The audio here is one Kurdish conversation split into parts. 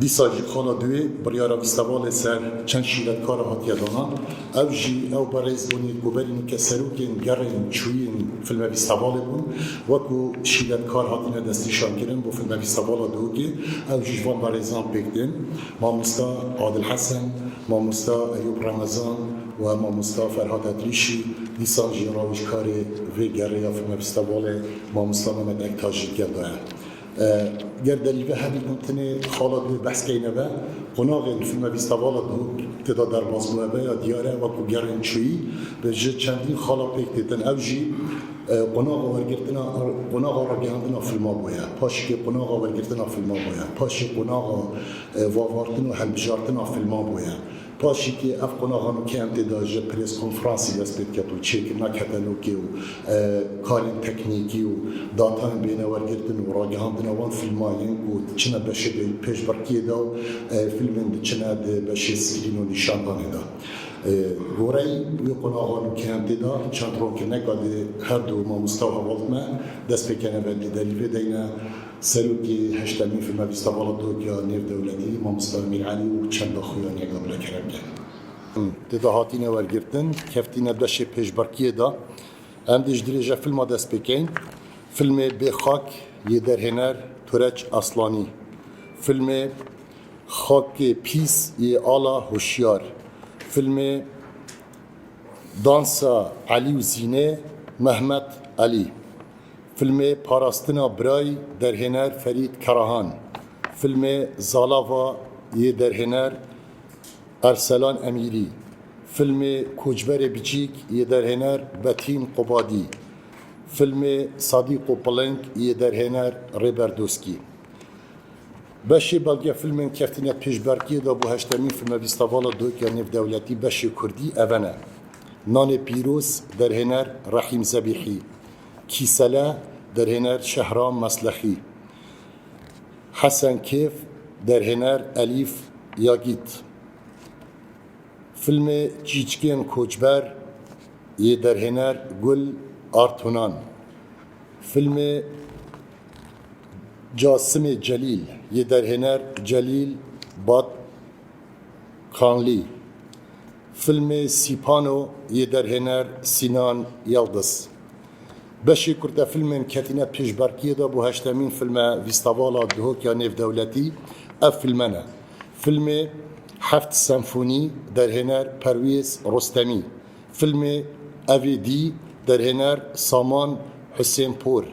Dîsa jî xala duê biryara vîstevalê ser çend şîretkara hatiye dana. Ev jî ew berêz bûnî ku berî min ke serokên gerên çûyîn filme vîstevalê bûn wekû şîretkar hatine destnîşankirin bo filme vîstevala Dûkê. Ew jî ji van berêzan pêk tên mamosta Adil Hesen, mamosta Eyûb Remezan û mamosta Ferhat Etrîşî. Dîsa jî rawêjkarê vê gerê ya filme vîstevalê mamosta Memed Ektaş jî gel daye. Ger delîlê hebî ku tenê xala dûr behs keyne ve, qonaxê li fîlma Vîstavala ku têda derbas bûye ve ya diyar e, wek ku gerên çûyî ve ji çendîn xala pêk têtin. Ew jî qonaxa wergirtina qonaxa ragihandina fîlma bûye, paşikê qonaxa wergirtina fîlma bûye, paşê qonaxa vavartin û hilbijartina fîlman bûye. Paşî kê ev qonaxa min kentê de ji prêskonfransê dest pê diket û çêkirina ketelokê û karên teknîkî û datayên bênewergirtin û ragihandina wan fîlman yên ku diçine beşê de yên pêşbirkiyê de û fîlmên diçine di beşê screen û nîşandanê de. Goreyî wê qonaxa min kentê de çend ronkirine ka di herdu mamosta û hevaltme dest pê kene ve dî derî vê deyne. Serokê Heştemîn Firmebîsta Bala Tokya Nêrdewletî Mamosta Emîr Elî û çend daxuyan ya Gabile Keremgel in. Tê de hatîne wergirtin, keftîne beşê pêşberkiyê de. Em dê ji dirêja fîlma dest pê kein. Fîlmê Bê Xak yê derhêner Tureç Aslanî. Fîlmê Xakê Pîs yê Ala Hoşyar. Fîlmê Dansa Elî û Zînê Mehmet Elî. Filmê Parastina Birayî derhêner Ferîd Karahan, filmê Zalava yê derhêner Erselan Emîrî, filmê Koçberê Biçîk yê derhêner Betîn Qobadî, filmê Sadîqo Piling yê derhêner Rêber Doskî. Beşê belgefilmên keftine pêşberkiyê de bo heştemîn Filmevîstavala Doyka Nêvdewletî beşê Kurdî, Evene, Nanê Pîroz, derhêner Rehîm Zebîhî, Kîsele, derhêner Şehram Meslexî, Hesen Kêf, derhêner Elîf Yagît, Filmê Çîçikên Koçber yê derhêner Gul Artunan, Filmê Casimê Celîl yê derhêner Celîl Bat, Kanlî, Filmê Sîpano yê derhêner Sînan Yildiz. Beşê kurtefilmên ketîne pêşberkiyê de bo heştemîn filme Vîstavala Dihok ya Nêvdewletî ev filme ne. Filmê Heft Senfonî derhêner Perwêz Rostemî. Filmê Evê Dî derhêner Saman Husênpor.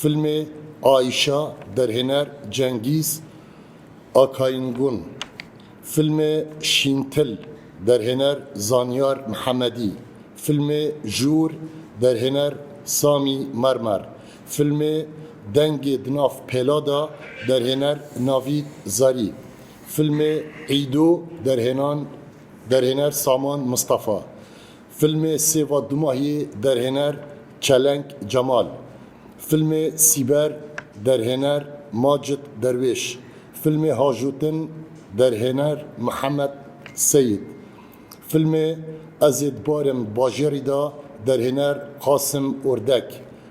Filmê Aîşa derhêner Cengîz. Akayîn Gun, Filmê Şîntil, derhêner Zanyar Mihemedî, Filmê Jûr, derhêner Samî Mermer, Filmê Dengê di nav pêla de, derhêner Navîd Zarî, Filmê Îdo, derhênan derhêner Saman Mistefa, Filmê Sêva Dumahiyê derhêner Çelenk Cemal, filmê Sîber derhêner Macit Derwêş, filmê Hajotin derhêner Mihemed Seyîd, filmê Ez ê dibarim bajêrî de derhêner Qasim Ordek,